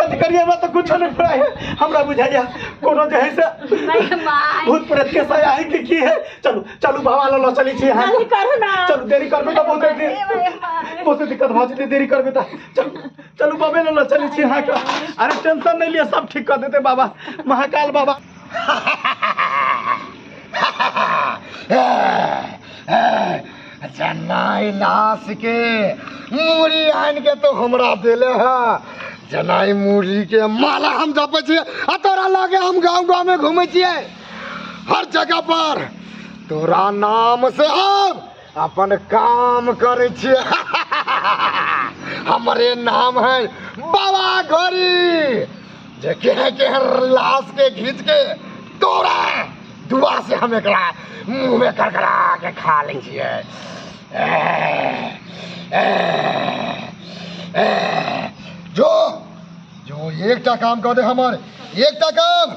कथी करिए हमरा तो कुछ नहीं पड़ा है हमरा बुझाइया कोनो जे है से नहीं माय भूत प्रेत के सया है कि की है चलू चलू बाबा लो लो चली छी यहाँ जल्दी करू ना चलू देरी करबे तो बहुत देरी ए भाई माय बहुत दिक्कत भऽ जेतै देरी करबे तऽ चलू चलू बाबे लो लो चली छी यहाँ के अरे टेंशन नहीं लिया सब ठीक कर देते बाबा महाकाल बाबा अच्छा नाई लाश के मूड़ी आन के तो हमरा देले है जनाई मूड़ी के माला हम जपे छिए आ तोरा लगे हम गांव गांव में घूमे छिए हर जगह पर तोरा नाम से हम अपन काम करे छिए हमरे नाम है बाबा घोरी जे केहन केहन लाश के घीच के तोरा दुआ से हम एकरा मुंह में करकरा के खा लै छियै जो जो एकटा काम कऽ दे हमर एकटा काम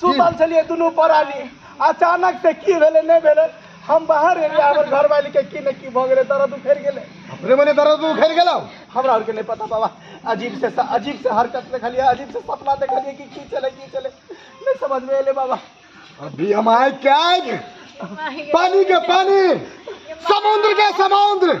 सुतल छलियै दुनू परानी अचानक से की भेलै नहि भेलै हम बाहर एलियै हमर घरवाली के की ने की भऽ गेलै दर्द उखड़ि गेलै अपने मने दर्द उखड़ि गेलौ हमरा आरके नहि पता बाबा अजीब से अजीब से हरकत देखलियै अजीब से सपना देखलियै कि की चलै की चलै नहि समझमे एलै बाबा अभी हम आए क्या पानी के पानी समुद्र के समुद्र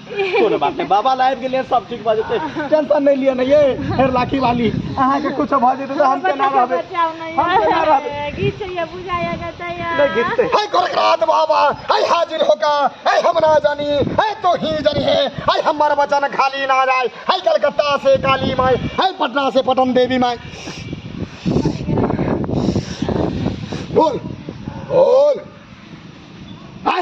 कोनो बात नहि बाबा लाइव के लिए सब ठीक भऽ जेतै टेंशन नहि लिअ ने ये फेर लाठी वाली अहाँके कुछ भऽ जेतै तऽ हम केना रहबै हम केना रहबै गीत छै ये बुझा या गता या नहि घिचतै है गोरखनाथ बाबा है हाजिर होका है हम ना जानी है तो ही जानी है है हमार वचन खाली ना जाए है कलकत्ता से काली माई है पटना से पटन देवी माई बोल बोल है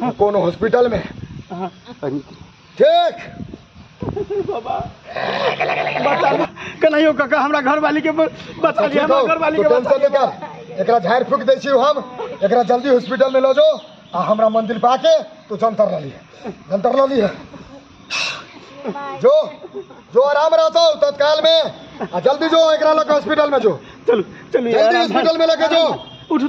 हाँ। कोनो हॉस्पिटल में हाँ। ठीक बाबा बचा लिया कन्हैयो काका हमरा घर वाली के बचा लिया हमरा घर वाली के बचा लिया एकरा झाड़ फूक दै छी हम एकरा जल्दी हॉस्पिटल में लो जो आ हमरा मंदिर पे आके तू जंतर ल लिए जंतर ल लिए जो जो आराम रहता हो तत्काल में आ जल्दी जो एकरा लग हॉस्पिटल में जो चलो चलो जल्दी हॉस्पिटल में लेके जो उठो